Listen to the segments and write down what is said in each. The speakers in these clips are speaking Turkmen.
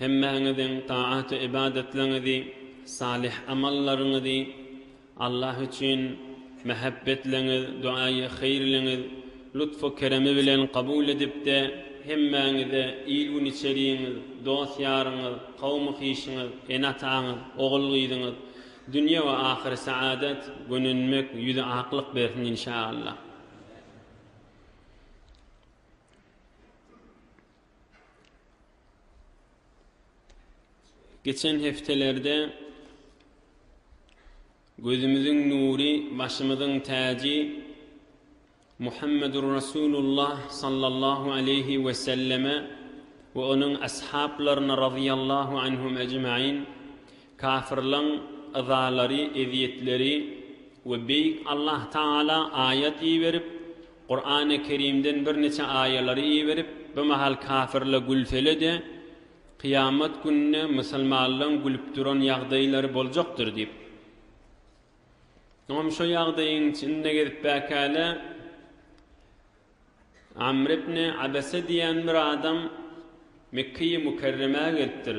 Hemmäňiziň taat-u-ybadatlaňyzy, salyh amallaryňyzy, Allah üçin mähebbetleňiz, doäýi-haýyrlyňyz lutfu-keremi bilen kabul edip-de, hemmäňize il-gün içeriňiz, dost-ýaryňyz, kawmy-hişiňiz, ene-ataňyz, ogul-gyzyňyz, dünýe we ahyry saadat, gönenmek, ýüzi aklyk bersin, inşa Allah. Geçen hepdelerde gözümiziň nury, başymyzyň täji Muhammedur Resulullah sallallahu aleýhi we selleme we onuň ashaplaryna razyýallahu anhum ejmain Kafirleň yzalary, ezýetleri we Beýik Allah Tagala aýat iberip, Kurany Kerimden birniçe aýalary iberip, bu mahal kafirle gülsele-de, kyýamat gününe musulmanlaň gülüp duran ýagdaýlary boljakdyr diýip. Soňam şo ýagdaýyň içinde gezip bäkäle Amr ibni Abese diýen bir adam Mekkeýi Mukerremä gelipdir.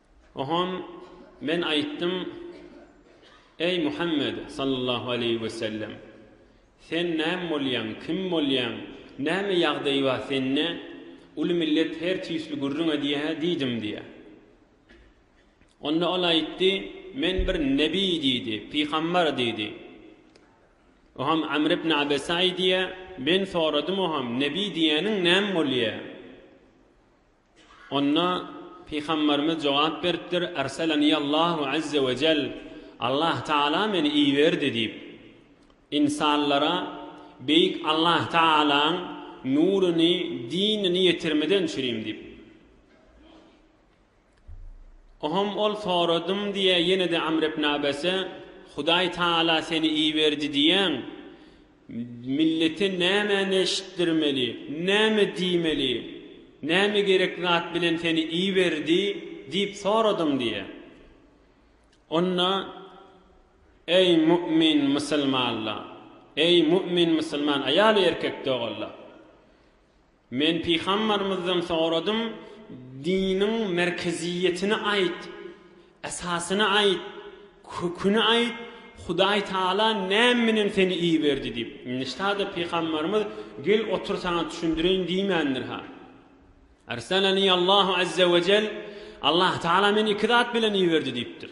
Ohon Men aýtdym, Eý, Muhammet, sallallahu aleýhi we sellem! Sen näm bolýaň, kim bolýaň, näme ýagdaý bar sende, uly millet her tüýsli gürrüň edýä? diýdim diýýä. Onda ol aýtdy, Men bir nebi diýdi, pygambar diýdi. Oham Amr ibn Abese aýdýa, Men soradym oham, nebi diýýäniň näm bolýa? Onda Pygamberimiz jogap beripdir, Erseleniallahu azze we jell, Allah Tagala meni iberdi diýip. Ynsanlara Beýik Allah Tagalaň nuruny, dinini ýetirmeden çürim diýip. Ohom ol soradym diýe ýene-de Amr ibn Abese, Hudaý Tagala seni iberdi diýýäň. Millete nämäni eşitdirmeli, näme diýmeli, näme gerek zat bilen seni iberdi diýip soradyň diýe. Onda, Eý, mu'min musulmanlar! Eý, mu'min musulman aýal-erkek doganlar! Men pygambarymyzdan soradym, Diniň merkeziýetini aýt, esasyny aýt, köküni aýt, Hudaý Tagala näme bilen seni iberdi diýip. Nişda-da pygambarymyz Gel otur saňa düşündireýin diýmändir-ha. Arsalani Allahu Azzawajal, Allah Tagala meni iki zat bilen iberdi diýipdir.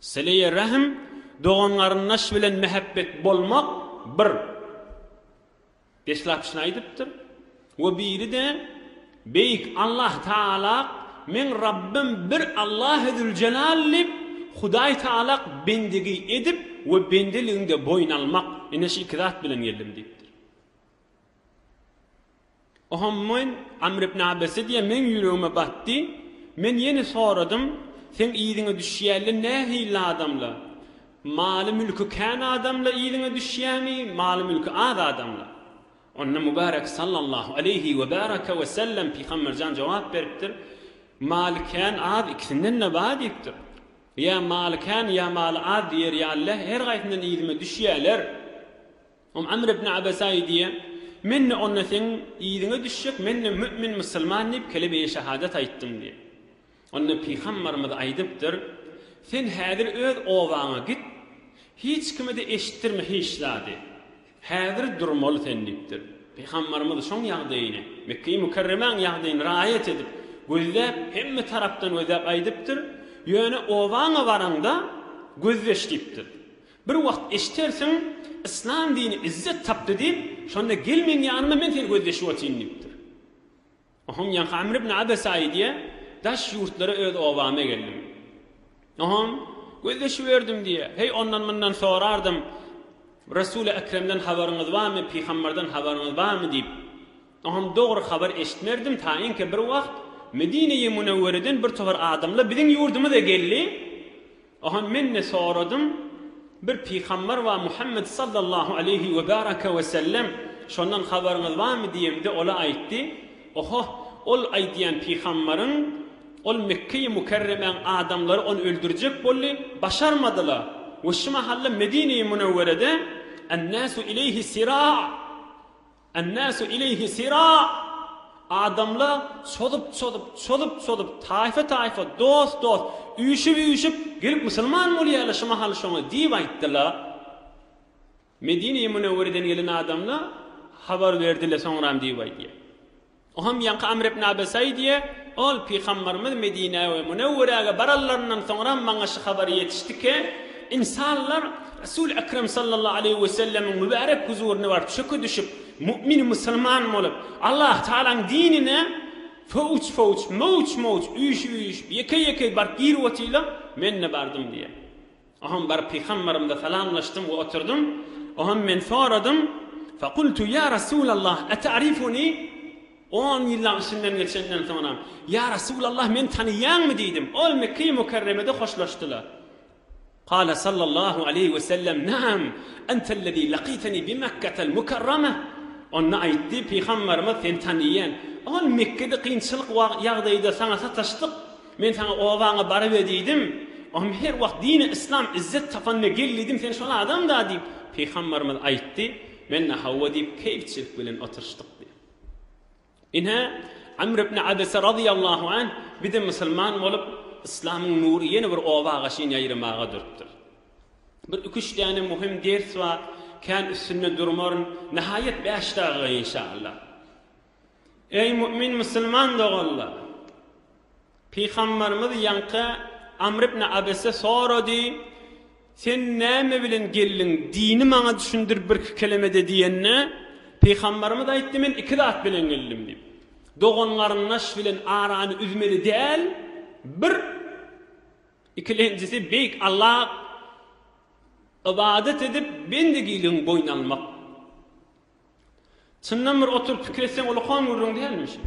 Syly-y rähm, dogan-garyndaş bilen mähebbet bolmak bir deslapçyny aýdypdyr we biri-de Beýik Allah Tagalak Meň Rabbym bir Allahy Züljelal diýip, Hudaý Tagalak bendigi edip we bendeligiňde boýun almak, ine şu iki zat bilen geldim diýipdir. Oho, men Amr ibn Abese diýen meň ýüregime batdy. Men ýene soradym, Seň yzyňa düşýänler nähili adamlar? Maly-mülki kän adamlar yzyňa düşýärmi, maly-mülki az adamlar? Onda Mübärek sallallahu aleýhi we bäraka we sellem Pygamberjan jogap beripdir, Maly kän, az ikisinden-de bar diýipdir. Ýa maly kän, ýa maly az diýer ýalylar her gaýsyndan yzyma düşýärler. Om Amr ibn Abasa aýdýar, Men-de onda seň yzyňa düşjek, men-de mü'min, musulman diýip, kelime-i şahadat aýtdym diýip. Onda Pygambarymyz aýdypdyr, Sen häzir öz obaňa git, hiç kime-de eşitdirme hiç zady. Häzir durmaly sen diýipdir. Pygambarymyz şoň ýagdaýyny, Mekge-i Mükerremäň ýagdaýyny raýat edip, gözläp, hemme tarapdan gözläp aýdypdyr, Ýöne obaňa baraňda gözleş diýipdir. Bir wagt eşidersiň, yslam dini izzet tapdy diýip, şonda gel meň ýanyma, men seni gözleşip otyryn diýipdir. Ohum ýaňky Amr ibn Abesa aýdýa, daş ýurtlara öz obama geldim. Ohum, gözleşiberdim diýýä. Heý, ondan-mundan sorardym, Resuli Ekremden habaryňyz barmy, pygamberden habaryňyz barmy diýip. Ohum dogry habar eşitmerdim, taýynki bir wagt Medine-i Munewwereden bir topar adamlar biziň ýurdumyza geldi. Aha men-de soradym, bir pygamber bar Muhammet sallallahu aleýhi we bäraka we sellem, şondan habaryňyz barmy diýemde ol-a aýtdy, Oho, ol aýdýan pygamberiň, ol Mekgeýi Mükerremäň adamlary ony öldürjek boldy, başarmadylar we şu mahalla Medineýi Münewwerede, Ennasu ileýhi sira, Ennasu ileýhi sira, Adamlar çozup çozup, çozup çozup, taýfa taýfa, dost dost, üýşüp üýşüp, gelip musulman bolýarlar şu mahal şoňa diýip aýtdylar. Medine-i Münewwereden gelen adamlar habar berdiler soňram diýip aýdýar. Ohem ýaňky Amr ibn Abesaý diýe, Ol, Pygambarymyz Medinä we Munewweräge baranlaryndan soňram maňa şu habar ýetişdike, Insanlar Resul Ekrem sallallahu aleýhi we sellemiň mübärek huzuryna baryp çöke düşüp, mu'min, musulman, bolup, Allah Tagalaň dinine fowç-fowç, mowç-mowç, üýşüp-üýşüp, ýekeý-ýekeý baryp girip otyla, men-de bardym diýe. Oňa baryp Pygamberimize salamlaşdym we oturdym. Oňam men soradym. Fekultu, Ýa Resulallah, ete'rifuni? On ýyllaň içinden geçenden soňra, Ýa Resulallah, meni tanyýaňmy? diýdim. Ol Mekge-i Mükerremede hoşlaşdylar. Kale sallallahu aleýhi we sellem, Naam, entellezî lakîteni bi Mekketel Mükerreme. Onda aýtdy, Pygamberimiz, Seni tanyýan. Ol Mekgede kynçylyk ýagdaýda saňa sataşdyk. Men saňa obaňa barybe diýdim, Ohm her wagt dini yslam izzet tapanda gel diýdim, sen şol adamda diýip, Pygambarymyz aýtdy, men-de hawa diýip keýpçilik bilen oturyşdyk diýýär. Ine, Amr ibn Abese razyýallahu anh bize musulman bolup, yslamyň nury ýene bir obaga çyn ýaýramaga durupdyr. Bir iki-üç däne muhim ders bar, kän üstünde durmaryn, nähaýat bäş dagyga inşallah. Eý mu'min musulman doganlar! Pygamberimiz ýaňky Amr ibn Abese sorady, Sen näme bilen geldiň, dini maňa düşündir birki kelemede diýende, Pygamberimiz aýtdy, Men iki zat bilen geldim diýip, Dogan-garyndaş bilen arany üzmeli däl, bir, ikilenjisi Beýik Allaha ybadat edip, bendegiligiňi boýun almak. Çyndan bir oturyp pikir etseň ulakan gürrüň dälmi şu?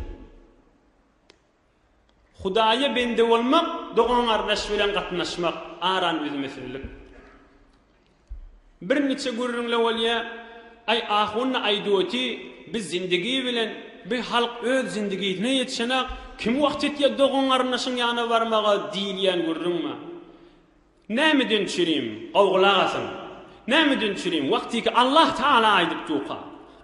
Hudaýa bende bolmak, dogan-gardaş bilen gatnaşmak, aran üzmesinlik. Bir niçe gürrüňle bolýa, Aý ahun-da aýdyoti, biz zindigi bilen, bir halk öz zindigisine ýetişenak, kim wagt etýä dogan-garyndaşyň ýanyna barmaga diýilýän gürrüň bar. Nämeden çirim, gowgulak asyň. Nämeden çirim, wagtyky Allah Taala aýdyp duka,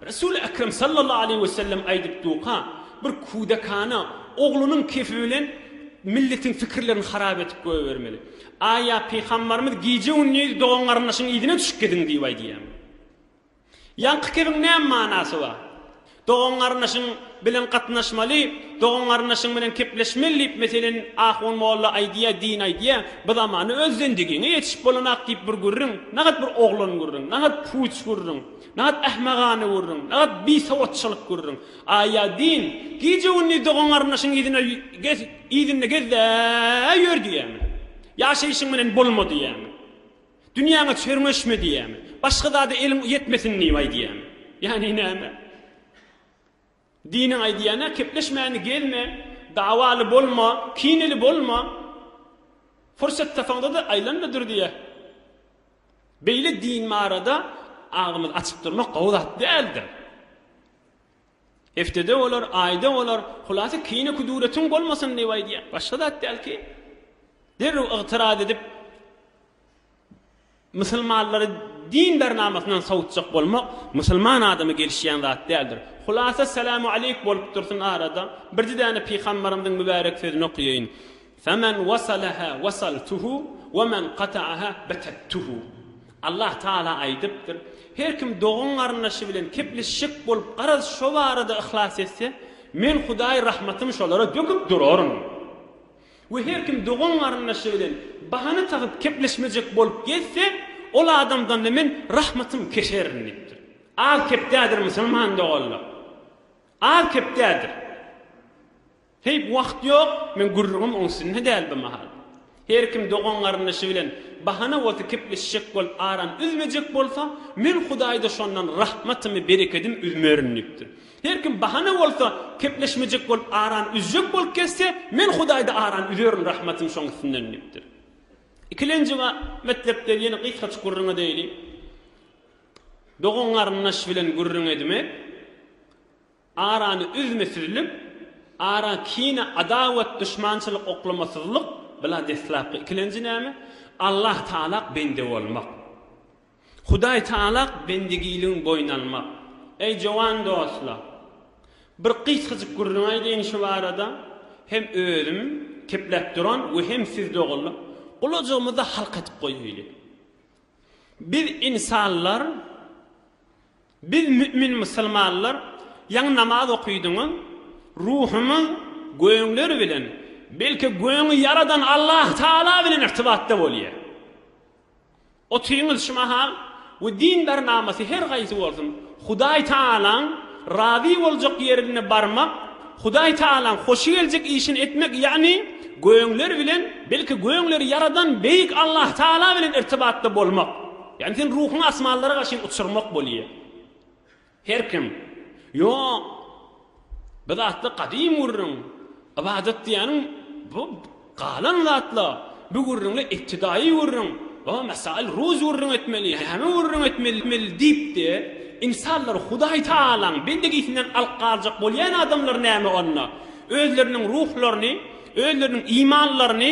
Resul Ekrem sallallahu aleýhi we sellem aýdyp duka, bir kudakana oglunyň kefi bilen milletiň pikirlerini harap edip goýbermeli. Aý ýa pygambarymyz gije-gündiz dogan-garyndaşyň yzyna düşüp gidiň diýip aýdýamy? Ýaňky kibiň näme manasy bar? Dogan-garyndaşyň bilen gatnaşmaly, dogan-garyndaşyň bilen kepleşmeli diýip meselin ahun molla aýdýa, din aýdýa, bu zamana öz zendigiňe ýetişip bolanak diýip bir gürrüň, nagat bir oglan gürrüň, nagat puç gürrüň, nagat ähmagana gürrüň, nagat bisowatçylyk gürrüň. Aýa din, gije-gündiz dogan-garyndaşyň yzyna gez, yzynda gez-de ýör diýýämi? Ýaşaýşyň bilen bolma diýýämi? Dünýäňe çörňeşme diýýärmi? Başga zada eliň ýetmesin diýip aýdýarmy? Ýagny näme? Diniň aýdýany, kepleşmäni gezme, dawaly bolma, kineli bolma. Pursat tapaňda-da aýlan-da dur diýýär. Beýle din barada agzymyzy açyp durmak gowy zat däldir. Heftede olar, aýda olar, hulasa kine kuduretiň bolmasyn diýip aýdýan. Başga zat däl ki, derrew ygtyraz edip, musulmanlary din bernamasyndan sowutjak bolmak musulman adama gelişýän zat däldir. Hulasa salam aleyk bolup dursun arada, birji däne pygambarymyzyň mübärek sözüni okaýaýyn. Femen wasalaha wasaltuhu we men kataaha betattuhu. Allah Taala aýdypdyr, Her kim dogan-garyndaşy bilen kepleşjek bolup garaz şo barada yhlas etse, Men Hudaý rahmatymy şolara döküp duraryn. We her kim dogan-garyndaşy bilen bahana tapyp kepleşmejek bolup gezse, ol adamdan-da Men rahmatymy keserin diýipdir. Az kepdädir musulman doganlar. Az kepdädir. Heý, wagt ýok, men gürrüňim oň üstünde däl bu mahal. Her kim dogan-garyndaşy bilen bahana bolsa kepleşjek bolup arany üzmejek bolsa, men Hudaýda şondan rahmatymy, berekedim üzmerin diýipdir. Her kim bahana bolsa kepleşmejek bolup arany üzjek bolup gezse, men Hudaýda arany üzerin, rahmatym şoň üstünden diýipdir. Ikilenji metlepleri ýene gysgaçyk gürrüň edeýli. Dogan-garyndaş bilen gürrüň edmek. Arany üzmesizlik, ara kine adawat duşmançylyk oklamasyzlyk bila deslapky ikilenji näme? Allah Taalak bende bolmak. Hudaý Taalak bendegiligiň boýun almak. Eý jowan dostla. Bir gysgajyk gürrüň aýdaýyn şu barada. Hem özüm kepläp duran we hem siz doganlar gulajygymyzda halk edip goýaýly. Biz insanlar Biz mümin musulmanlar ýaňy namaz okydyňyz, ruhumyz göňler bilen, belki göňi ýaradan Allah Taala bilen irtibatda bolýar. Otyňyz şu mahal we din bernamasy her haýsy bolsun, Hudaý Taalaň razy boljak ýerine barmak, Hudaý Taalaň hoşy geljek işini etmek ýagny göňler bilen, belki göňleri ýaradan beýik Allah Taala bilen irtibatda bolmak. Ýagny sen ruhuňy asmanlara garşy uçurmak bolýa. Her kim, Ýok, bu zatlar gadym gürrüň, ybadat diýýäniň bu galan zatlar, bu gürrüňler ibtidaýy gürrüň, o mesail ruz gürrüň etmeli, häme gürrüň etmeli diýip-de, ynsanlary Hudaý Tagalaň bendegisinden alyp galjak bolýan adamlar näme onda? Özleriniň ruhlaryny, özleriniň imanlaryny,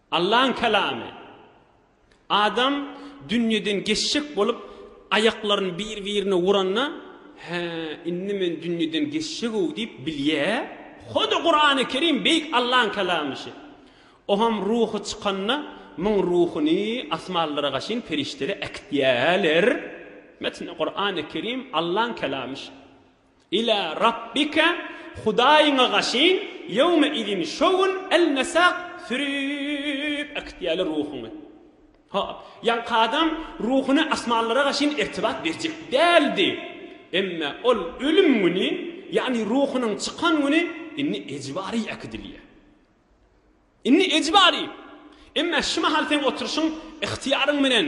Allaň Kalamy, Adam dünýeden geçjek bolup, aýaklaryny bir-birine uranda, Hä, indi men dünýeden geçjeg-ow diýip bilýär. Hoda Kurany Kerim Beýik Allaň Kalamyşy. Oňam ruhy çykanda, muň ruhuny asmanlara gaşyn perişdeler äkitýärler. Metni Kurany Kerim Allaň Kalamyşy. Ilâ Rabbike, Hudaýyňa gaşyn, ýewme-izin, şo gün, el-mesâk, sürüp äkitýärler ruhuňy. Hop, ýaňky adam ruhuny asmanlara gaşyn irtibat berjek däldi. Emma ol ölüm güni, ýagny ruhunyň çykan güni indi ejbary äkidilýär. Indi ejbary. Emma şu mahal seň oturyşyň, yhtyýaryň bilen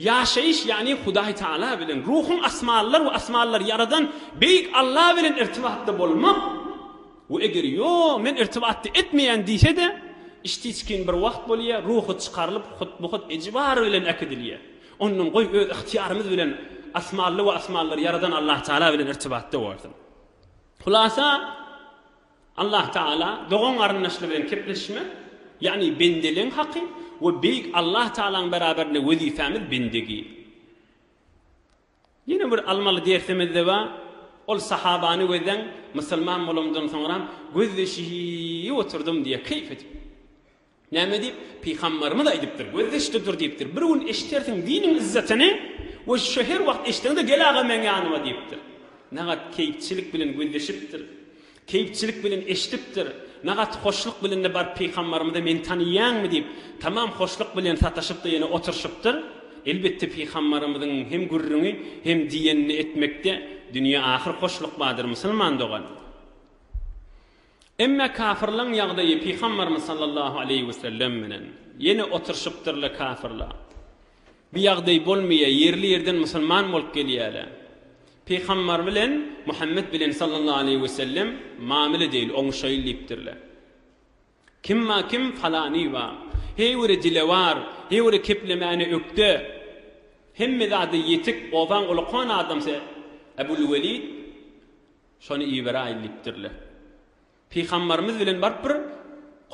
Ýaşaýyş, ýagny Hudaý Tagala bilen, ruhuň asmanlar we asmanlary ýaradan Beýik Alla bilen irtibatda bolmak we eger ýo, men irtibatda etmeýän diýse-de, içtiçkin bir wagt bolýa, ruhy çykarylyp, hutmuhut ejibary bilen äkidilýä. Ondan goý öz ygtyýarymyz bilen asmanly we asmanlary ýaradan Allatagala bilen irtibatda bolsun. Hulasa. Allah Tagala dogan-garyndaşlar bilen kepleşmek, ýagny bendeligiň haky we Beýik Allah Tagalaň beraberinde wezipämiz bendegi. Ýene bir almaly dersimizde bar, ol sahabany gözläň, musulman bolanymdan soňra gözleşip oturdym diýýär, keýp edip. Näme diýip, Pygamberimiz aýdypdyr, Gözdeşde dur diýipdir, bir gün eşidersiň diniň yzzatyny we şu her wagt eşdeňde gel aga meň ýanyma diýipdir. Nagat keýpçilik bilen gözdeşipdir. Keýpçilik bilen eşdipdir. Nagat hoşluk bilen-de baryp Pygamberimize meni taniýäňmi diýip, tamam hoşluk bilen sataşyp-da ýene oturşypdyr. Elbetde Pygamberimiziň hem gürrüňi hem diýenini etmekde dünýe ahyr hoşluk bardyr musulman dogan. Emme kafirleň ýagdaýy Pygamberimiz sallallahu aleýhi we sellem bilen ýene oturşypdyrlar kafirler bu ýagdaý bolmaýar ýerli ýerden musulman bolup gelýärler Pygamber bilen Muhammet bilen sallallahu aleýhi we sellem mamile deýl oňuşaýyl diýipdirler kimma kim falany ba her biri dilewar her biri keplemäne ökde hemme zady ýetik ozaň ulakan adamsy Ebul Welid Şony iberäýin diýipdirler. Pygambarymyz bilen baryp bir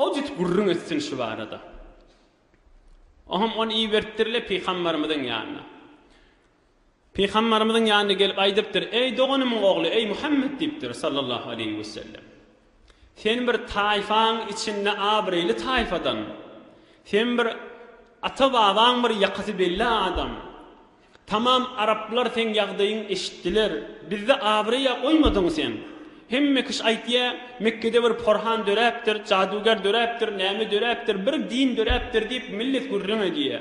hojut gürrüň etsin şu barada. Oňam ony iberipdirler pygambarymyzyň ýanyna. Pygambarymyzyň ýanyna gelip aýdypdyr, Eý doganymyň ogly, eý Muhammet diýipdir, sallallahu aleýhi wesellem. Sen bir taýfaň içinde abraýly taýfadan. Sen bir ata-babaň bir ýakasy belli adam. Tamam araplar seň ýagdaýyň eşitdiler. Bizde abraýa goýmadyň sen. Hemme kiş aýtýa Mekgede bir porhan döräpdir, jaduger döräpdir, näme döräpdir, bir din döräpdir diýip millet gürrüň edýä.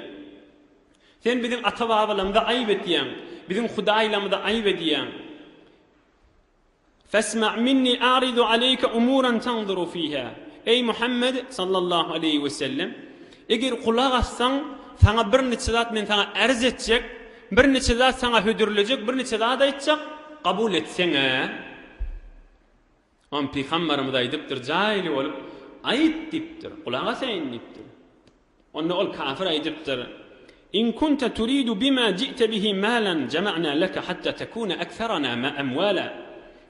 Sen biziň ata-babalamyza aýyp etýäň, biziň hudaýlamyza aýyp edýäň. Fesma minni aridu aleýke umuran tanzuru fiha, Eý Muhammed, sallallahu aleýhi we sellem, eger gulak assaň, saňa bir niçe zat men saňa arz etjek, bir niçe zat saňa hödürlejek, bir niçe zat aýtjak, kabul etseň-ä. Pygamberimiz aýdypdyr, jaýly bolup, aýt diýipdir, gulak asaýyn diýipdir. Onda ol kafir aýdypdyr, In kunte turidu bima ji'te bihi malan jama'na leke hatta tekune ekserana ma emwala,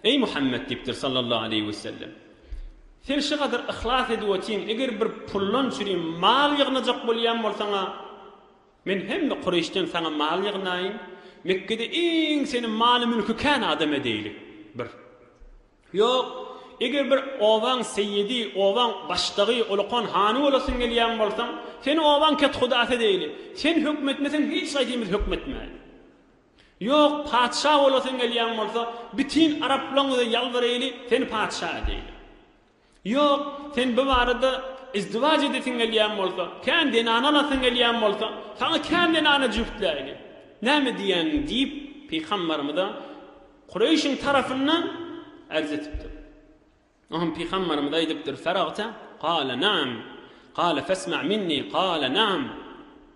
Eý Muhammet diýipdir sallallahu aleýhi wesellem, Sen şu gadar yhlas edip otyň, eger bir pullan çüri mal ýygnajak bolýan bolsaň-a, men hemme Kureýşden saňa mal ýygnaýyn, Mekgede iň seni maly-mülki kän adam edeýlik. Bir. Ýok, eger bir obaň seýidi, obaň başdagy, ulukan hany bolasyň gelýän bolsa, seni obaň kethudasy edeýli. Sen höküm etmeseň, hiç haýsymyz höküm etmäýeli. Ýok, patyşa bolasyň gelýän bolsa, bütin araplaň bize ýalbaraýly, seni patyşa edeýli. Ýok, sen bu barada izdiwaç edesiň gelýän bolsa, kän zenany alasyň gelýän bolsa, saňa kän zenany jübtläýeli. Näme diýýäň? diýip, pygambarymyza Kureýşiň tarapyndan arz edipdir. O hem pygambarymyza aýdypdyr, Feragta? Gala, Naam. Gala, Fesma minni. Gala, Naam.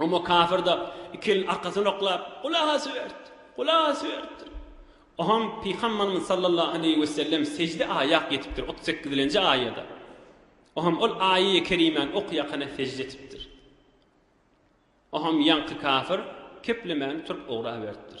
Emma kafir-de iki elini arkasyna oklap, gulak asyberipdir, gulak asyberipdir. Oňam pygamberimiz sallallahu aleýhi wesellem sejde aýak ýetipdir, otuz sekizilenji aýada. Oňam ol aýaýy kerimäni okaýakana sejde etipdir. Oňam ýaňky kafir keplemän turup ugraberipdir.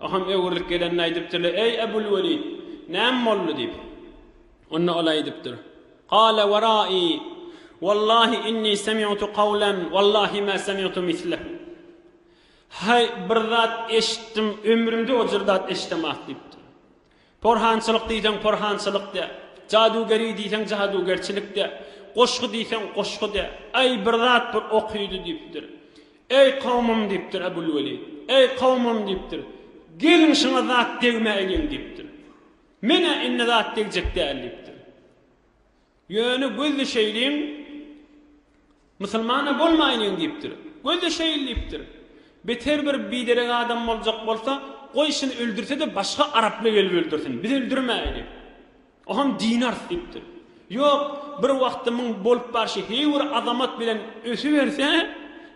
Ahun öwrülip gelenini aýdypdyr-da, Eý, Ebul Welid, näme boldy? diýip. Onda ol aýdypdyr. Kale wera'i, Wallahi inni semi'tu kawlen, wallahi ma semi'tu mislehu. Haý, bir zat eşitdim, ömrümde o jür zat eşidemok, diýipdir. Porhançylyk diýseň porhançylyk de, jadugeri diýseň jadugerçilik de, goşgy diýseň goşgy de, aý, bir zat bir okyjy diýipdir. Eý, kowmym, diýipdir Ebulwelid. Eý, kowmym, diýipdir. Geliň, şuňa zat degmäýliň, diýipdir. Men-ä indi zat degjek däl, diýipdir. Ýöne gözli şeýlin, musulman-a bolmaýlyň diýipdir. Gözli şeýl diýipdir. Beter bir biderek adam boljak bolsa, goý şuny öldürse-de başga araply gelip öldürsin, biz öldürmäýeli. O hem dinars diýipdir. Ýok, bir wagtymyň bolup barşy, heý bir azamat bilen ösüberse,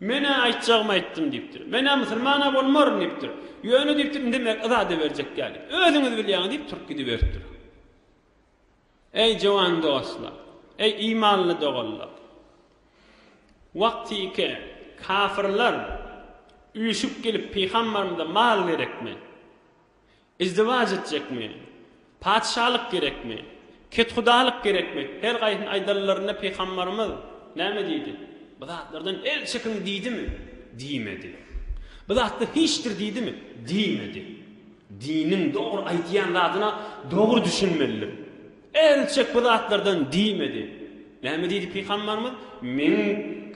Men-ä aýtjagymy aýtdym diýipdir. Men-ä musulman-a bolmaryn diýipdir. Ýöne diýipdir, indi mek yzada berjek däl diýip. Özüňiz bilýäňiz diýip turup gidiberipdir. Eý jowan dostlar! Eý imanly doganlar! Wagtyky kafyrlar üýşüp gelip pygamberimize mal gerekmi? Izdiwaç etjekmi? Patyşalyk gerekmi? Kethudalyk gerekmi? Her gaýsyny aýdanlarynda pygambarymyz näme diýdi? Bu zatlardan el çekiň diýdimi? Diýmedi. Bu zatlar hiçdir diýdimi? Diýmedi. Diniň dogry aýdýan zadyna dogry düşünmelidir. Ähli çek bu zatlardan diýmedi. Näme diýdi pygamberimiz? Meň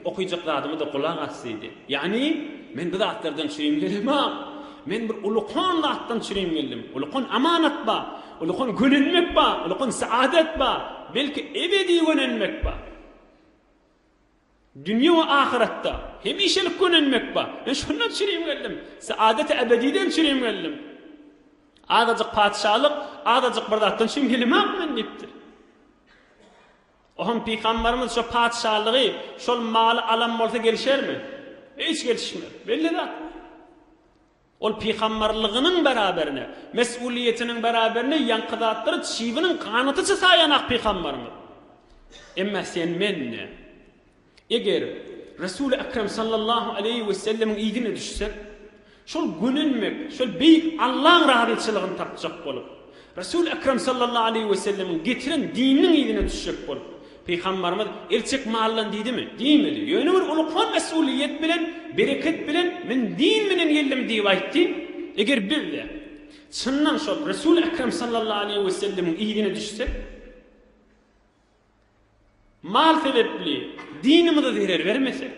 okyjak zadyma-da gulak as diýdi. Ýagny, men bu zatlardan çürim gelemok. Men bir ulukan zatdan çürim geldim. Ulukan amanat bar. Ulukan gönenmek bar. Ulukan saadet bar. Belki ebedi gönenmek bar. Dünýe we ahyretde hemişelik gönenmek bar. Men şundan çürim geldim. Saadeti ebediden çürim geldim. Azajyk patyşalyk, azajyk bir zatdan çürim gelemok men diýipdir. Ohan pygamberimiz şo patyşalygy, şol maly alan bolsa gelişermi? Hiç gelişmez. Belli zat. Ol pygamberligiňiň beraberine, mes'uliýetiniň beraberine ýaňky zatlary çybiniň ganatyça saýan ak pygamberňiz. Emma sen mende, eger Resul-i Ekrem sallallahu aleýhi we sellemiň yzyna düşsek, şol gönenmek, şol beýik Allaň razyçylygyny tapjak bolup, Resul Ekrem sallallahu aleýhi we sellemiň getiren dininiň yzyna düşjek bolup, Pygambarymyz el çek maldan diýdimi? Diýmedi. Ýöne bir ulkan mesulyýet bilen, bereket bilen, Men din bilen geldim diýip aýtdy. Eger biz-de çyndan şol Resul Ekrem sallallahu aleýhi we sellemiň yzyna düşsek, Mal sebepli dinimize zerer bermesek,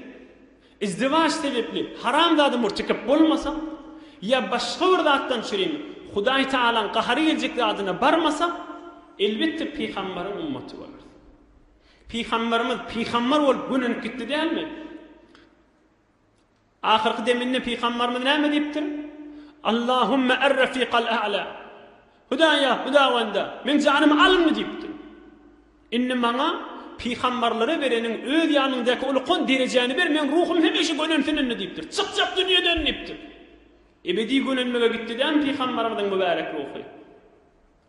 izdiwaç sebepli haramzada mürtekep bolmasak, ýa başga bir zatdan çürin Hudaý Tagalaň gahary geljek zadyna barmasak, elbetde pygamberiň ummaty bolarys. Pygamberimiz pygamber bolup gönenip gitdi dälmi? Ahyrky deminde pygambarymyz näme diýipdir? Allahumma er-refiqal a'la. Hudaýa, Hudawanda, meň janymy alyňmy diýipdir. Indi maňa pygambarlara bereniň öz ýanyňdaky ulukan derejäni ber, meň ruhum hemişe gölensin indi diýipdir. Çykjak dünýeden diýipdir. Ebedi gölenmege gitdi dämi pygambarymyzyň mübärek ruhy?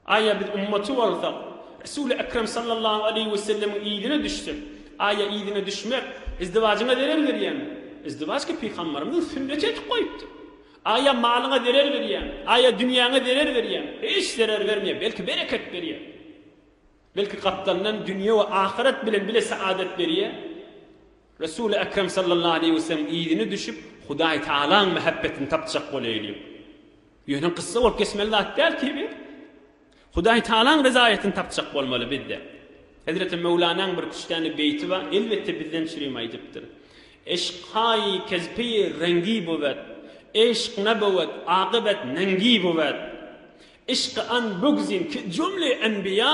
Aýa biz ummaty bolsak, Resuly Ekrem sallallahu aleýhi we sellemiň yzyna düşsek, aýa yzyna düşmek izdiwajyňa zerer berýärmi? Izdiwajky pygambarymyzyň sünneti etip goýupdyr. Aýa malyňa zerer berýärmi? Aýa dünýäňe zerer berýärmi? Hiç zerer bermeýär, belki bereket berýär. Belki gapdalyndan dünýe we ahyret bilen bile saadet berýär. Resuly Ekrem sallallahu aleýhi we sellem yzyna düşüp, Hudaý Tagalaň mähebbetini tapjak bolaýlyň. Ýöne kyssa bolup geçmeli zat däl ki bi. Hudaý Tagalaň rezaýetini tapjak bolmaly bizde. Hezreti Möwlanaň bir küştdäne beýti bar, elbetde bizden çürim aýdypdyr. Eşkhaý kezpi rengi bowet, eşk na bowet, akybet nengi bowet. Yşky an bugzin ki jümle enbiýa,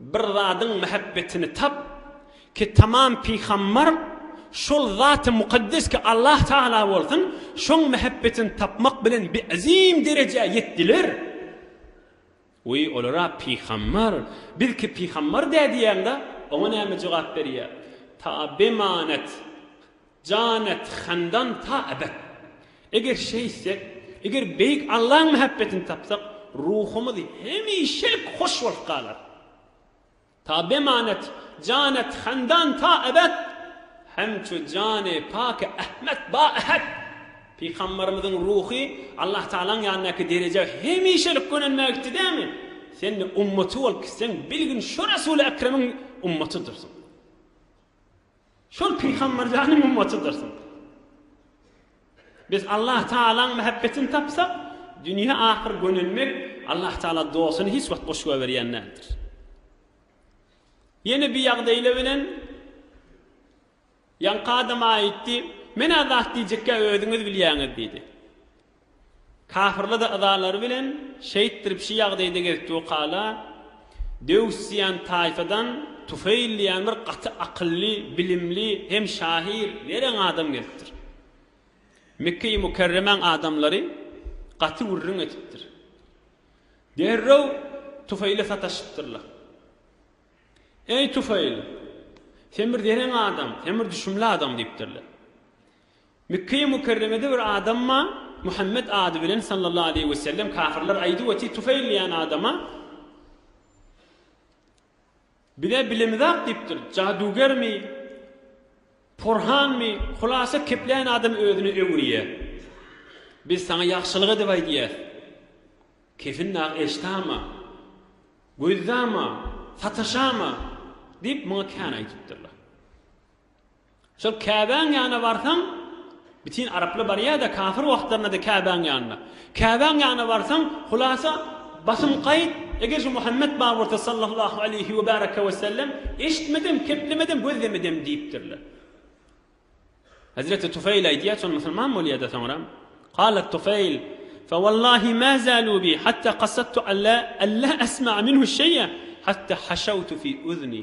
Bir zadyň mähebbetini tap, ki tamam pygambar şol Zaty Mukaddes ki Allah Taala bolsun, şoň mähebbetini tapmak bilen bi azim derejä ýetdiler. Wi olara pygambar, biz ki pygambar dä diýäňda, oňa näme jogap berýär? Taa bemanet. Jan et handan ta ebet. Eger şeýtsek, eger Beýik Allaň mähebbetini tapsak, ruhumyz hemişelik hoş bolup galar. Ta beman et, jan et handan ta ebet, Hemçu jany paky Ahmet ba Ahad. Pygambarymyzyň ruhy Allah Tagalaň ýanyndaky derejä hemişelik gönenmä gitdi dämi? Sen-de ummaty bolup gitseň, bilgin şo Resuly Ekremiň ummatydyrsyň. Şol Pygamber janyň ummatydyrsyň. Biz Allah Taalaň mähebbetini tapsak, dünýä ahyr gönelmek Allah Taala dostuny hiç wagt boş goýberýän däldir. Ýene bir ýagdaýla bilen Ýaňky adam aýtdy, Men-ä zat diýjekkä özüňiz bilýäňiz diýdi. Kafyrly-da yzalary bilen şeýtdirip şi ýagdaýda gezipdi we kala, Döws diýen taýfadan Tufeýl diýen bir gaty akylly, bilimli hem şahyr, zerän adam gezipdir. Mekge-i Mükerremäň adamlary gaty gürrüň etipdir. Derrew Tufeýle sataşypdyrlar. Eý Tufeýl, sen bir zerän adam, sen bir düşümli adam diýipdirler. Mekge-i Mükerremede bir adam ma, Muhammet ady bilen sallallahu aleýhi we sellem kafirler aýdyp oti Tufeýl diýen adama, Biz-ä bilemizak diýipdir, jadugermi, porhanmy, hulasa kepläýen adam özüni öwürýä. Biz saňa ýagşylyk edip aýdýas. Kefin dagy eşdama, gözdama, sataşama diýip muňa kän aýdypdyrlar. Şol Käbäň ýanyna barsaň, bitin araplar barýa-da, kafir wagtlarynda-da Käbäň ýanyna. Käbäň ýanyna barsaň, hulasa, basym gaýt, eger şu Muhammet bar bolsa sallallahu aleýhi we bäraka we sellem, eşitmedem, keplemedem, gözlemedem diýipdirler. Hezreti Tufeýl aýdýar, şol musulman bolýa-da soňra. Kala Tufeýl, Fewallahi ma zalu bi hatta kasattu alla alla asma minhu şeý'a hatta haşawtu fi uzni.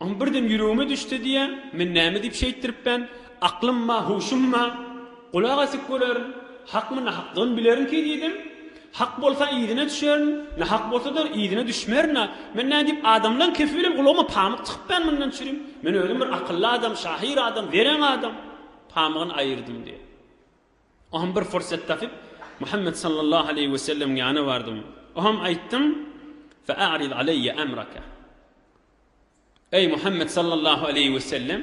Oň birden ýüregime düşse diýýä, men näme diýip şeýtdiripbän? Aklymma, huşumma gulak asip görerin. Hakmy, nahaklygyn bilerinki diýdim. Hak bolsa yzyna düşerin, nahak bolsa-da yzyna düşmerin-a. Men nädip adamlaň kefi bilen gulagyma pamyk tykypbän mundan çürim? Men özüm bir akylly adam, şahyr adam, zerän adam. Pamygyny aýyrdym diýýä. Oňam bir pursat tapyp, Muhammet sallallahu aleýhi we sellemiň ýanyna bardym. Oňam aýtdym, Fe a'rid aleýe emreke. Eý, Muhammet sallallahu aleýhi we sellem,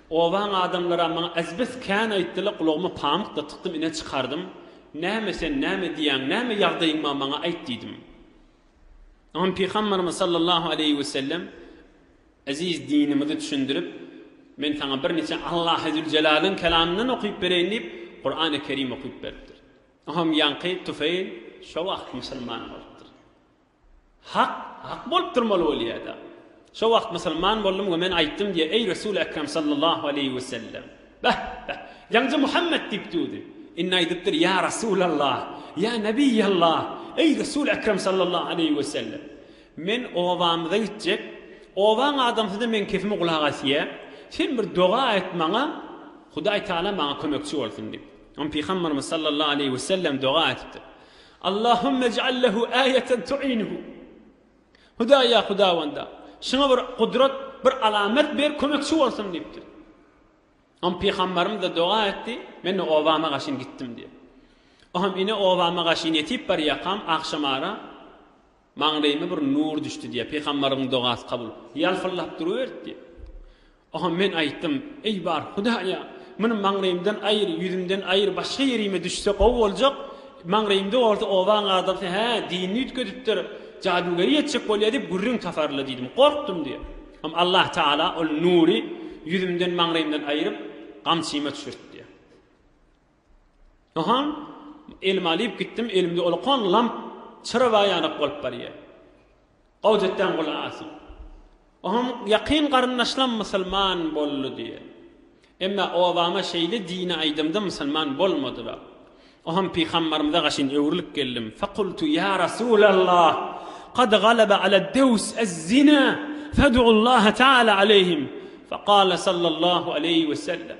obaň adamlaram maňa ezbes kän aýtdylar, gulagyma pamyk-da tykdym, ine çykardym. Näme sen, näme diýýäň, näme ýagdaýyň bar, maňa aýt diýdim. Soň Pygamberimiz sallallahu aleýhi we sellem eziz dinimizi düşündirip, Men saňa bir niçe Allahy Züljelalyn kelamyndan okyp bereýin diýip, Kurany Kerim okyp beripdir. Oňam ýaňky Tufeýl şo wagt musulman bolupdyr. Hak, hak bolup durmaly bolýada. Şo wagt musulman boldum we men aýtdym diýýär, Eý, Resul-i Ekrem sallallahu aleýhi we sellem! Bäh, bäh! Ýaňja Muhammet diýip düwdi. Indi aýdypdyr, Ýa Resulallah! Ýa Nebiýallah! Eý, Resul-i Ekrem sallallahu aleýhi we sellem! Men obamyza gitjek. Obaň adamsy-da meň sesime gulak asýar. Sen bir doga aýt maňa, Hudaý Tagala maňa kömekçi bolsun diýip. Onda Pygamberimiz sallallahu aleýhi we sellem doga aýdypdyr. Allahümme ec'al lehu aýeten tu'inuhu. Hudaý, ýa Hudawanda, şuňa bir gudrat, bir alamet ber, kömekçi bolsun diýipdir. Oňa pygamberimiz-de doga etdi, men-de obama gaşyn gitdim diýýär. Oňam ine obama gaşyn ýetip barýakam, agşamara maňlaýyma bir nur düşdi diýýär, pygamberimiziň dogasy kabul, ýalpyldap duruberdi diýýär. Oho, men aýtdym, Eý, bar Hudaýa, muny maňlaýymdan aýyr, ýüzümden aýyr, başga ýerime düşse gowy boljak, maňlaýymda bolsa obaň adamsy, hä, dinini üýtgedipdir, jadygeri etjek bolýar diýip gürrüň taparlar diýdim. Gorkdum diýip. Hem Allah Tagala ol nury ýüzümden, maňlaýymdan aýryp, gamçyma düşürtdi. Ynha, elime alyp gitdim, elimde ulkan lamp çyraga ýanak bolup barýar. Gowjetdäň gulak asyn. Oňam ýakyn garyndaşlam musulman boldy diýýär. Emma obama şeýle dini aýdymda musulman bolmadylar. Oňam pygambarymyza gaşyn öwrülip geldim. Fekultu ýa Rasulallah, kad galaba ala dews ez-zina, fedu'ullaha taala aleyhim. Fekale sallallahu aleyhi wesellem.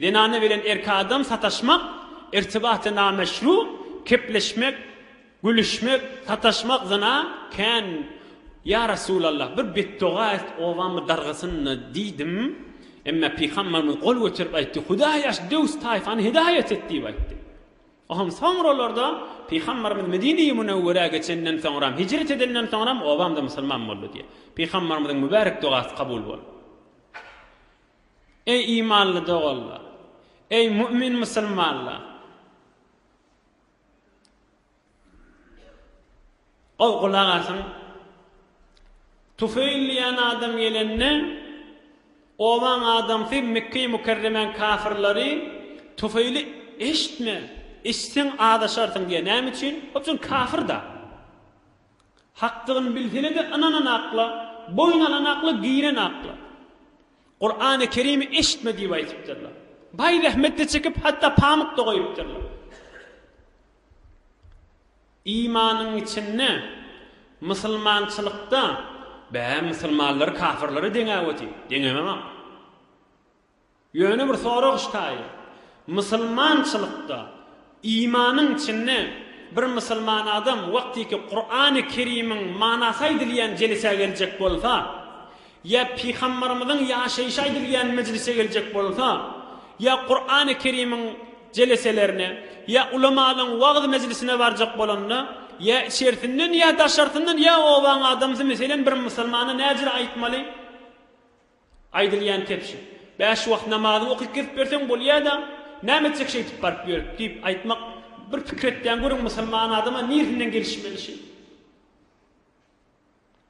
Zenana bilen erki adam sataşmak, irtibaty nameşru, kepleşmek, gülüşmek, sataşmak zyna, kän, Ýa Resulallah, bir betdoga et, obamy dargasyn-da diýdim, emma Pygamberimiz gol göterip aýtdy, Hudaý aç döwüs taýfany hidaýat et diýip aýtdy. O hem soňralarda Pygamberimiz Medine-i Münewwerä geçenden soňram, hijret edenden soňram obam-da musulman boldy diýýär. Pygamberimiziň mübärek dogasy kabul boldy. Eý imanly doganlar! Eý mu'min musulmanlar! Gowy gulak asyň! Tufeýl diýen adam gelende, obaň adamsy Mekge-i Mükerremäň kafyrlary Tufeýli Eşitme, eşitseň azaşarsyň diýýär. Näme üçin? Hop şol kafyrda. Hakdygyny bilsene-de ynanan akla, boýun alan akla, giren akla. Kurany Kerimi eşitme diýip aýdypdyrlar. Baý zähmetde çekip hatda pamykda goýupdyrlar. Imanyň içinde Musulmançylykda bä musulmanlary kafyrlara deňäwedi, deňemem-ak. Ýöne bir sorag ştaýy, musulmançylykda imanyň içinde bir musulman adam wagtyky Kurany Kerimiň manasy aýdylýan jelesä geljek bolsa, ýa Pygambarymyzyň ýaşaýşy aýdylýan mejlise geljek bolsa, ýa Kurany Kerimiň jeleselerine, ýa ulamalyň wagyz mejlisine barjak bolanda, ýa içersindn ýa daşarsyndan ýa obaň adamsy meselen bir musulmana näjr aýtmaly? Aýdylýan kebşi. Bäş wagt namazy okyp gezip ýörseň bolýada, näme etjek şeýdip baryp ýörüp diýip aýtmak, bir pikir etýän görüň musulman adama nirsinden gelişmeli şeý.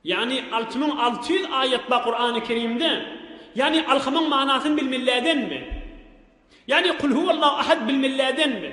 Ýagny alty müň alty ýüz aýat bar Kurany Kerimde, ýagny alhymyň manasyny bilmellädenmi? Ýagny Kul huwallahu ahad bilmellädenmi?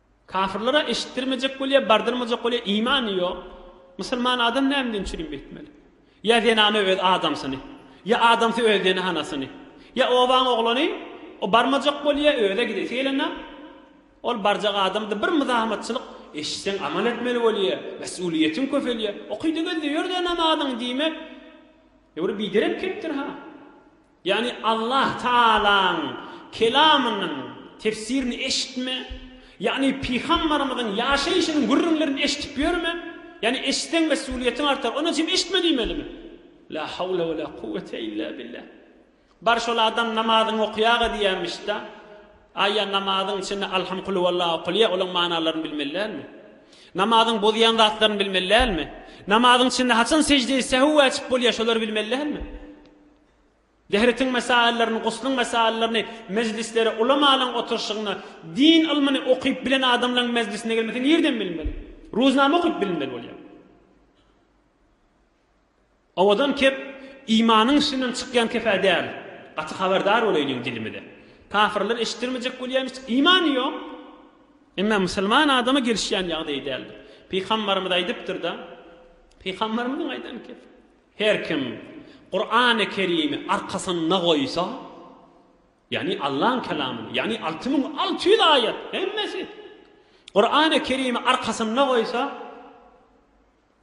Kafirlere eşitdirmejek bolýar, bardyrmajak bolýar, imany ýok. Musulman adam nämeden çürim etmeli? Ýa zenana öz adamsyny, ýa adamsy öz zenanasyny, ýa obaň oglany, o barmajak bolýar, özi-ä gidesi gelenok, ol barjak adamda bir myzamatçylyk eşitseň amal etmeli bolýar, mesulyýetiň köpelýär, okyda-gözde ýör-de namazyňy diýmek, ýöwre biderek kepdir-ha. Ýagny Allah Tagalaň Kelamynyň tefsirini eşitme, ýagny Pygambarymyzyň ýaşaýşynyň gürrüňlerini eşidip ýörme, ýagny eşitseň mesulyýetiň artar, ondan çyn eşitme diýmelimi? La hawla we la kuwwete illa billah. Bar şol adam namazyňy okaýaga diýýämişda, aý ýa namazyň içinde Alham Kulhuwalla okalýa, olaň manalaryny bilmeli dälmi? Namazyň bozýan zatlaryny bilmeli dälmi? Namazyň içinde haçan sejdeýi sehw wajyp bolýa, şolary bilmeli dälmi? Dehritin mesaillerini, guslyň mesaillerini mejlislere ulamalaň oturyşygyna, din ylmyny okyp bilen adamlaň mejlisine gelmese nirden bilmeli? Ruznama okyp bilinmeli bolýar. Owadan kep imanyň içinden çykýan kepe däl. Gaty habardar bolaýlyň dilimize. Kafirler eşitdirmejek bolýarmyş, imany ýok. Emma musulman adama gelişýän ýagdaýy däldir. Pygambarymyz aýdypdyr-da. Pygambarymyzyň aýdan kepi. Her kim Kurany Kerimi arkasynda goýsa, ýagny Allaň Kelamyny, ýagny alty müň alty ýüz aýat, hemmesi, Kurany Kerimi arkasynda goýsa,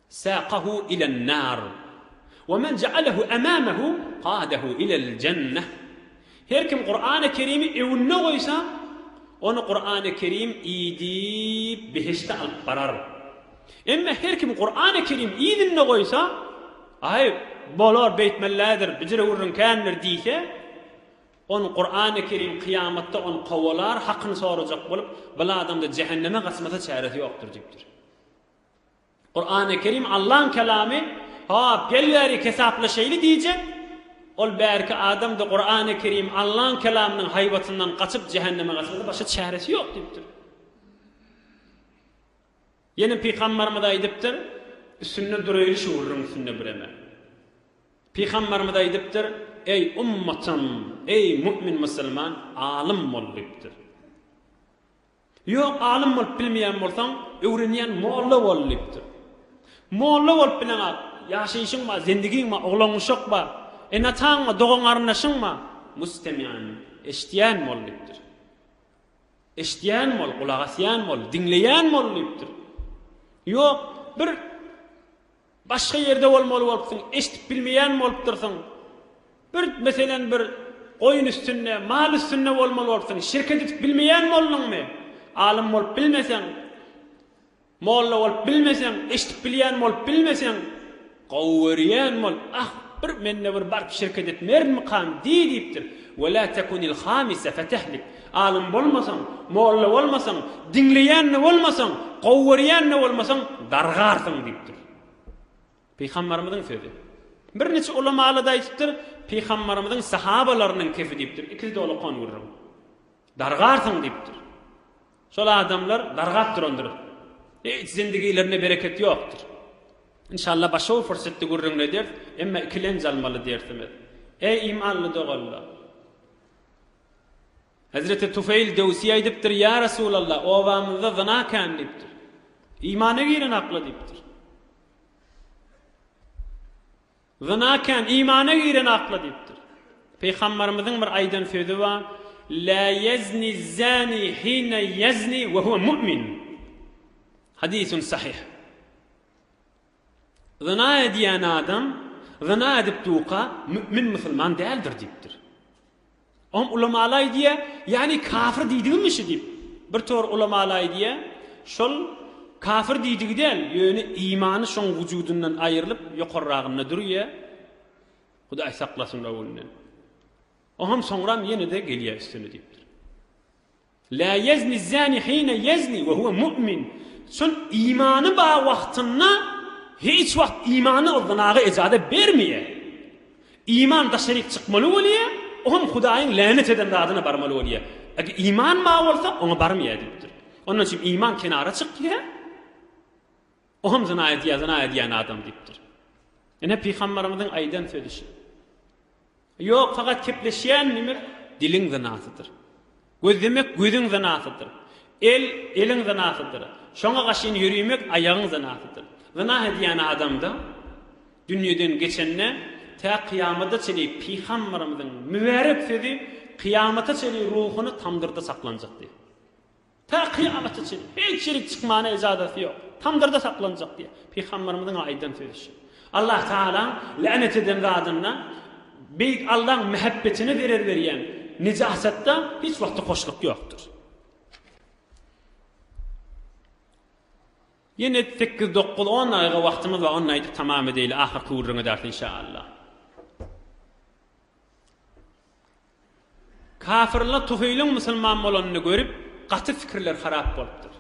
sakahu ilen nar, we men jaalehu amamahu qadahu ilel jenneh, Her kim Kurany Kerimi öwünine goýsa, ony Kurany Kerim idip behişde alyp barar. Emma her kim Kurany Kerim idinde goýsa, Aý, bolar, beýtmellädir, bijirewürriň kändir diýse, on Kurany Kerim kyýamatda ony kowalar, hakyny sorajak bolup, bil adamda jähenneme gaçmasa çäresi ýokdur diýipdir. Kurany Kerim Allaň Kelamy, Hop, gel bärik hesaplaşaýly diýjek. Ol bärki adam-da Kurany Kerim Allaň Kelamynyň haýbatyndan gaçyp jähenneme gaçmasa başga çäresi ýok diýipdir. Ýene Pygambarymyz aýdypdyr, Üstünde duraýly şu gürrüň üstünde bireme. Pygambarymyz aýdypdyr, Eý ummatym, eý mu'min musulman, alym bol diýipdir. Ýok, alym bolup bilmeýän bolsaň, öwrenýän molla bol diýipdir. Molla bolup bileňä, ýaşaýşyň bar, zendigiň bar, oglan-guşak bar, ene-ataň bar, dogan-garyndaşyň bar. Mustemýan, eşidýän bol diýipdir. Eşidýän bol, gulak asýan bol, diňleýän bol diýipdir. Ýok, bir Başga ýerde bolmaly bolupsyň, eşdip bilmeýän bolupdyrsyň. Bir, meselem, bir goýun üstünde, mal üstünde bolmaly bolupsyň. Şirket edip bilmeýän bolduňmy? Alym bolup bilmeseň, molla bolup bilmeseň, eşdip bilýän bolup bilmeseň, gowy görýän bol, ah, bir, men-de bir baryp şirket etmerinmikam diý diýipdir. Welâ tekunil-hâmise fetehlik. Alym bolmasaň, molla bolmasaň, diňleýän-de bolmasaň, gowy görýän-de bolmasaň, dargarsyň diýipdir. Pygambarymyzyň sözi. Birniçe ulamaly-da aýdypdyr, Pygambarymyzyň sahabalarynyň kisi diýipdir, ikisi-de olakan gürrüň. Dargarsyň diýipdir. Şol adamlar dargap durandyr. Hiç zindigilerinde bereket ýokdur. Inşallah başga bir pursatda gürrüňini ederis, emma ikilenç almaly dersimiz. Eý imanly doganlar! Hezreti Tufeýl Döwsi aýdypdyr, Ýa Resulallah, obamyzda zyna kän diýipdir. Imana giren akla diýipdir. Zyna kän, imana giren akla diýipdir. Pygambarymyzyň bir aýdan sözi bar, La ýezni zani hine ýezni we huwa mu'min. Hadisun sahih. Zyna edýän adam zyna edip duka mü'min musulman däldir diýipdir. Oňa ulamalar aýdýar, ýagny kafir diýdigimi şu diýip. Bir tor ulamalar aýdýar, şol kafir diýdigi däl, ýöne imany şoň wujudyndan aýrylyp ýokarragynda durýar. Hudaý saklasyn o günden. Oňam soňram ýene-de gelýär üstüne diýipdir. Lâ ýezni zâni hîne ýezni ve huve mu'min, Şol imany bar wagtynda hiç wagt imany zynaga ejazet bermeýär. Iman daşaryk çykmaly bolýar, o hem Hudaýyň länet eden zadyna barmaly bolýar. Eger iman bar bolsa, oňa barmaýar diýipdir. Ondan üçin iman kenara çykýar. O hem zyna edýär, zyna edýän adam diýipdir. Ine pygamberimiziň aýdan sözi şu. Ýok, fakat kepleşýän nime? Diliň zynasydyr. Gözlemek gözüň zynasydyr. El, eliň zynasydyr. Şoňa gaşyn ýörimek aýagyň zynasydyr. Zyna edýän adamda dünýeden geçende tä kyýamada çenli pygamberimiziň mübärek sözi kyýamata çenli ruhuny tamdyrda saklanjak diýip. Takyk alysy üçin hiç ýerik çykmana ejazasy ýok. Tamdyrda saklanjak diýip, Pygamberimiziň aýdan sözi şu. Allah Tagalaň länet eden zadynda, Beýik Allaň mähebbetine zerer berýän nejasatda hiç wagtda hoşluk ýokdur. Ýene sekiz, dokuz, on dagyga wagtymyz bar, ony aýdyp tamam edeýli, ahyrky gürrüň ederis inşaallah. Kafyrlar Tuheýliň musulman bolanyny görüp, gaty pikirleri harap bolupdyr.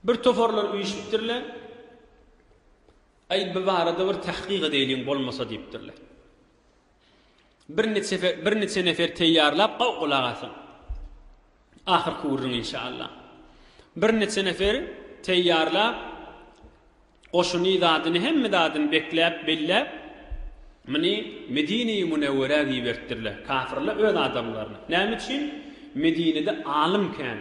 Bir toparlar üýşüpdirler. Aý, bu barada bir tahkyk edeýliň bolmasa diýipdirler. Bir niçe nefer teýýarlap gowy gulak asyň. Ahyrky gürrüň inşallah. Bir niçe nefer teýýarlap goşuny zadyny hemme zadyny bekläp belläp muny Medine-i Munewwerä gibertdirler. Kafyrlar öz adamlaryny. Näme üçin? Medinede alym kän.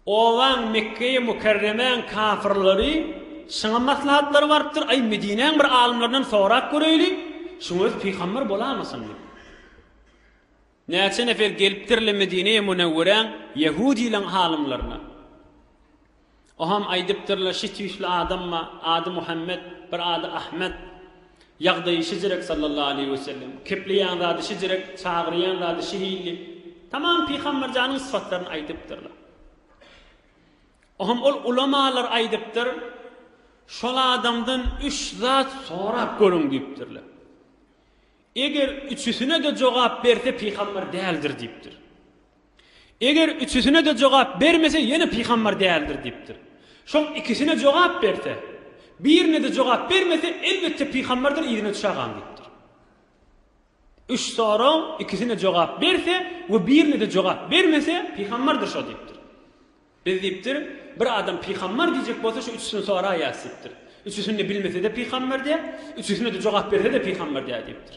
Owaň Mekgeýi Mükerremäň kafyrlary şyňa maslahatlara barypdyr, Aý, Medinäň bir alymlaryndan sorap göreýli, şuň özi pygambar bolamysyn diýip. Näçe nefer gelipdir-le Medinäýi Münewweräň ýehudylaň alymlaryna. Oham aýdypdyr-la, Şi tüýsli adam bar, ady Muhammet, bir ady Ahmet. Ýagdaýy şejirek sallallahu aleýhi wesellem, kepleýän zady şejirek, çagyrýan zady şehilli, tamam Pygamberjanyň sypatlaryny aýdypdyrlar. Ohm ol ulamalar aýdypdyr, Şol adamdan üç zat sorap görüň diýipdirler. Eger üçüsine-de jogap berse pygamber däldir diýipdir. Eger üçüsine-de jogap bermese ýene pygambar däldir diýipdir. Şoň ikisine jogap berse, birine-de jogap bermese elbetde pygambardyr yzyna düşägam diýipdir. Üç soragyň ikisine jogap berse we birine-de jogap bermese pygambardyr şo diýipdir. Biz diýipdir, bir adam pygambar diýjek bolsa şu üçüsini soraýas diýipdir. Üçüsini-de bilmese-de pygambar dä, üçüsine-de jogap berse-de pygambar dä diýipdir.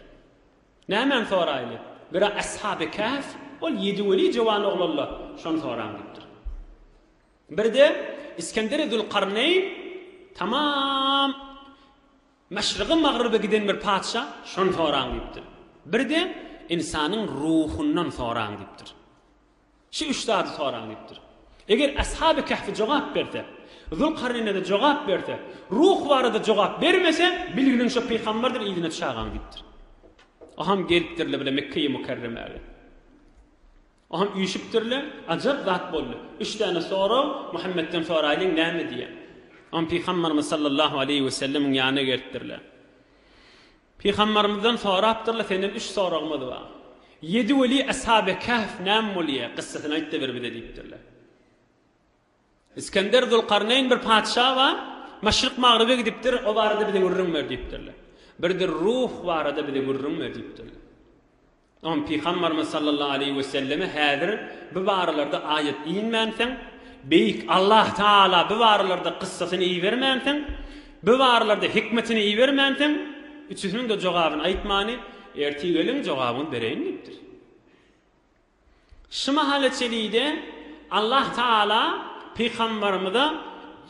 Nämäni soraýly? Biri Ashaby Kähf, ol ýedi weli jowan oglanlar, şony soraň diýipdir. Biri-de Isgenderi Zülkarneýn, tamam Maşryga Magryba giden bir patyşa, şony soraň diýipdir. Biri-de Ynsanyň ruhundan soraň diýipdir. Şu üç zady soraň diýipdir. Eger Ashaby Kahfi jogap berse, Zülkarneýne-de jogap berse, Ruh barada jogap bermese, bilgiliň şo pygamberdir yzyna çagaň diýipdir. Oham gelipdirle bile Mekkeýi Mukarremäge. Oham üýşüpdirle, ajap zat boldy. Üç däne sorag Muhammetden soraýlyň näme diýýä. Oham pygamberimiz sallallahu aleýhi wesellemiň ýanyna gelipdirle. Pygambarymyzdan sorapdyrlar senden üç soragymyz bar. Ýedi weli Ashaby Kahf näme bolýar? Gyssasyny aýtda bir bize diýipdirler. Iskender Zulkarneýn bir patyşa bar, Maşryk Magryba gidipdir, o barada bize gürrüň ber diýipdirler. Birdir Ruh barada bize gürrüň ber diýipdirler. Onsoň Pygamberimiz sallallahu aleýhi we selleme häzir bu baralarda aýat inmänsoň, Beýik Allah Taala bu baralarda kyssasyny ibermänsoň, bu baralarda hikmetini ibermänsoň, üçüsiniň-de jogabyny aýtmany, ertir geliň jogabyňyzy bereýin diýipdir. Şu mahala çelide Allah Taala Pygamberimize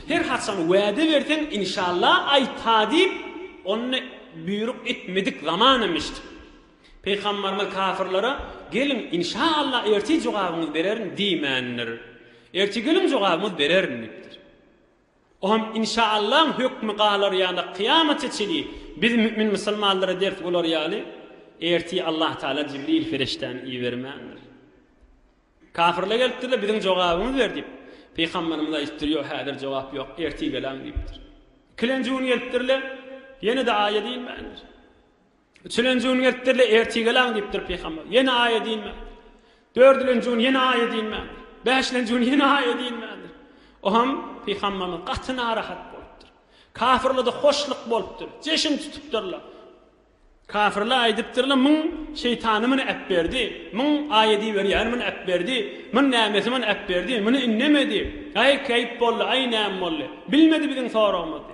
her haçan wada berseň inşallah aýta diýip onda buýruk etmedik zamanam eşitipdir. Pygamberimiz kafirlere, Geliň, inşa Allah ertir jogabyňyzy bererin diýmändir. Ertir geliň jogabyňyzy bererin diýipdir. O hem inşa Allahyň hökmi galar ýa-da kyýamata çenli biz mümin musulmanlara ders bolar ýaly ertir Allah Taala Jibril perişdäni ibermändir. Kafirler gelipdirler, biziň jogabymyzy ber diýip. Pygamberimiz aýdypdyr, Ýok, häzir jogap ýok, ertir geläň diýipdir. Ikilenji gün gelipdirler, ýene-de aýat inmändir. Üçülenji gün gelipdir-le, ertir gel-aň diýipdir pygamber. Ýene aý edinmän. Dördülenji gün ýene aý edinmän. Bäşilenji gün ýene aý edinmändir. O hem pygamberimiz gaty narahat bolupdyr. Kafirlerde hoşluk bolupdyr. Jeşin tutupdyrlar. Kafirler aýdypdyrlar, Muň şeýtany muny äpberdi. Muň aý ediberýäni muny äpberdi. Muň nämesi muny äpberdi. Muny indemedi. Aý, keýp boldy, aý, näme boldy. Bilmedi biziň soragymyzy.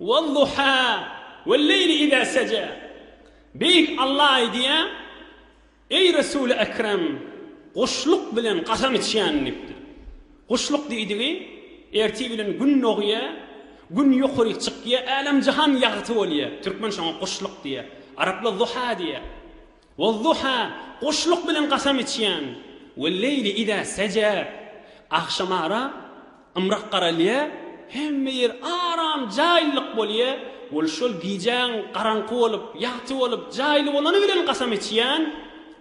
Wad-duha, wel-leýli iza seja. Beýik Alla aýdýar, Eý, Resuly ekrem, guşluk bilen gasam içýän diýipdir. Guşluk diýdigi, ertir bilen gün dogýar, gün ýokaryk çykýar, älem-jahan ýagty bolýar. Türkmen şoňa guşluk diýýär. Araplar duha diýýär. Wal-Duha, Guşluk bilen gasam içýän. Wel-leýli iza seje, Agşamara ymrak garalýar, hemme ýer aram, jaýlylyk bolýar. Ol şol gijäň garaňky bolup, ýagty bolup, jaýly bolany bilen gasam içýän.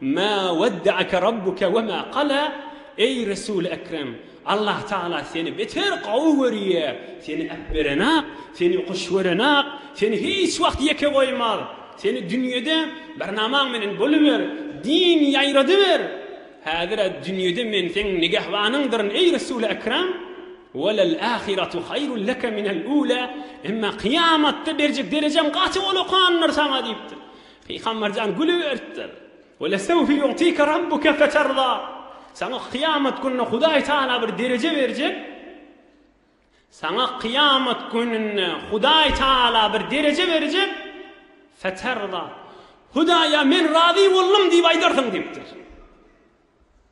Mä wedde'eke rabbuke we mä qala, Eý Resul-i Ekrem! Allah Taala seni beter gowy görýär, seni äpberenak, seni hoş görenak, seni hiç wagt ýeke goýmaz, seni dünýede barnamaň menen boluber, din ýaýradyber, häzir-ä dünýede men seň nigehbanyňdyryn eý Resul-i Ekrem, Welel ahiratu haýrun leke minel ula, emma kyýamatda berjek derejaň gaty golakandyr saňa diýipdir. Pygamberjan gülüberipdir. Welesewfe ýu'tika rabbuke feterda. Saňa kyýamat günde Hudaý Tagala bir dereje berjek. Saňa kyýamat gününde Hudaý Tagala bir dereje berjek. Feterda. Hudaýa men razy boldum diýip aýdarsyň diýipdir.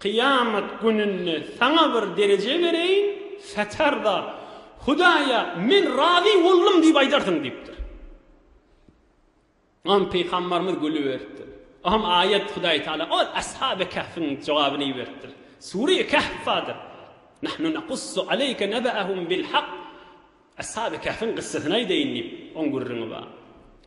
Kyýamat gününde saňa bir dereje bereýin, satarda, Hudaýa men razy boldum diýip aýdarsyň diýipdir. Ondan pygambarymyz gülüberipdir. Oňa aýat Hudaý Taala ol Ashaby Kahfyň jogabyny iberipdir. Sure Kahf bardyr. Nahnu naqussu aleyke nabahum bil hak. Ashaby Kehfiň gyssasyny aýdaýyn diýip, oň gürrüňi bar.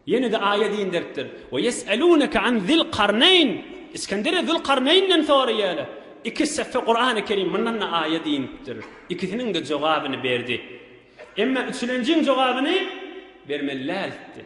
Ýene-de aýat inderipdir. We ýes'eluneke an Zil Karneýn. Iskenderä Zul Karneýnden soraýarlar. Iki sefhe Kurany Kerim mundan-da aýat inipdir. Ikisiniň-de jogabyny berdi. Emma üçülenjiň jogabyny bermeli däl etdi.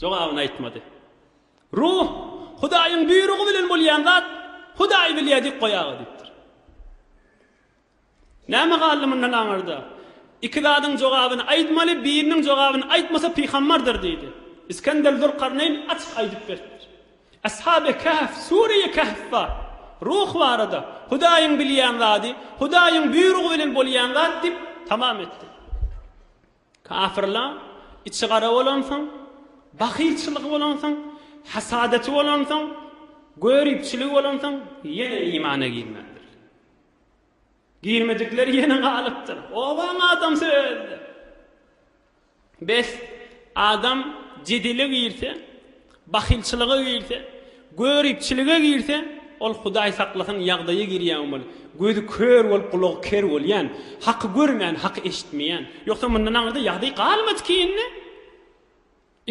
Jogabyny aýtmady. Ruh, Hudaýyň buýrugy bilen bolýan zat, Hudaý bilýär dik goý aga diýipdir. Näme galdy mundan aňyrda? Iki zadyň jogabyny aýdmaly, biriniň jogabyny aýtmasa pygambardyr diýdi. Isgender Zülkarneýn açyk aýdyp beripdir. Ashaby Kehf Sureýi Kehfda Ruh barada, Hudaýyň bilýän zady, Hudaýyň buýrugy bilen bolýan zat diýip tamam etdi. Kafirlaň içi gara bolansoň, bahylçylygy bolansoň, hasadeti bolansoň, göripçiligi bolansoň ýene imana girmändirler. Girmedikleri ýene galypdyr. Obaň adamsy özi-de. Bes, adam jedele girse, Bahylçylyga girse, göripçilige girse, ol Hudaý saklasyn ýagdaýa girýäň ol. Gözi kör bolup gulagy ker bolýan, haky görmän haky eşitmeýän. Ýogsa mundan aňyrda ýagdaý galmady ki indi.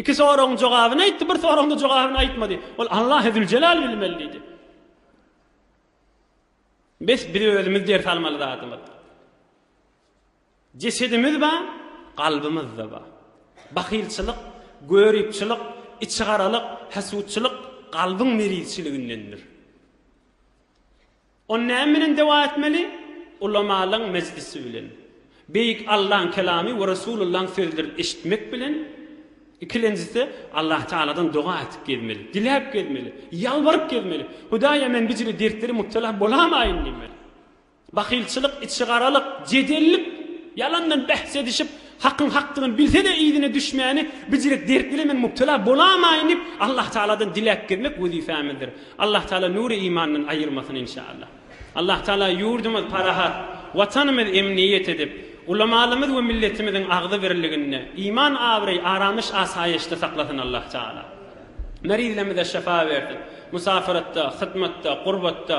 Iki soragyň jogabyny aýtdy, bir soragyňda jogabyny aýtmady. Ol Allahy Züljelal bilmeli diýdi. Bes biz özümiz ders almaly zadymyz. Jesedimiz bar, kalbymyz-da bar. Bahylçylyk, göripçilik, içigaralyk, hasutçylyk kalbyň merizçiligindendir. Ony näme bilen dewa etmeli? Ulamalyň mejlisi bilen. Beýik Allaň kelamy we Resulullaň sözlerini eşitmek bilen. Ikilenjisi, Allah Tagaladan doga etip gezmeli, diläp gezmeli, ýalbaryp gezmeli. Hudaýa men bu jüli dertleri mubtela bolamaýyn diýmeli. Bahylçylyk, içigaralyk, jedellik, ýalandan bähs edişip, hakyň hakdygyny bilse-de yzyna düşmäni bijirek dert bilen men mubtela bolamaýyn diýip, Allah Tagaladan diläp gezmek wezipämizdir. Allah Tagala nury imandan aýyrmasyn inşallah. Allah Tagala ýurdumyz parahat, Watanymyz emniýet edip, ulamalymyz we milletimiziň agzybirliginde, iman, abraý, aramyş, asaýyşda saklasyn Allah Tagala. Merizlerimize şypa bersin. Musafyratda, hyzmatda, gurbatda,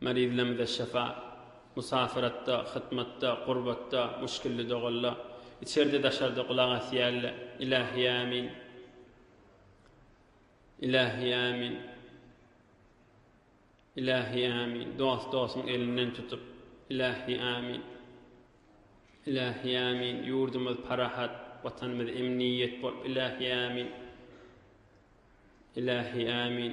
Maryzlarymyza şyfa, musafiratda, hytmatda, gurbatda, muşgilli dogalla, içerde-daşarda gulak asýalla. Ilahi Amin. Ilahi Amin. Ilahi Amin. Dost dosuň elinden tutup. Ilahi Amin. Ilahi Amin. Ýurdumyz parahat, Watanymyz emniýet bolup. Ilahi Amin. Ilahi Amin.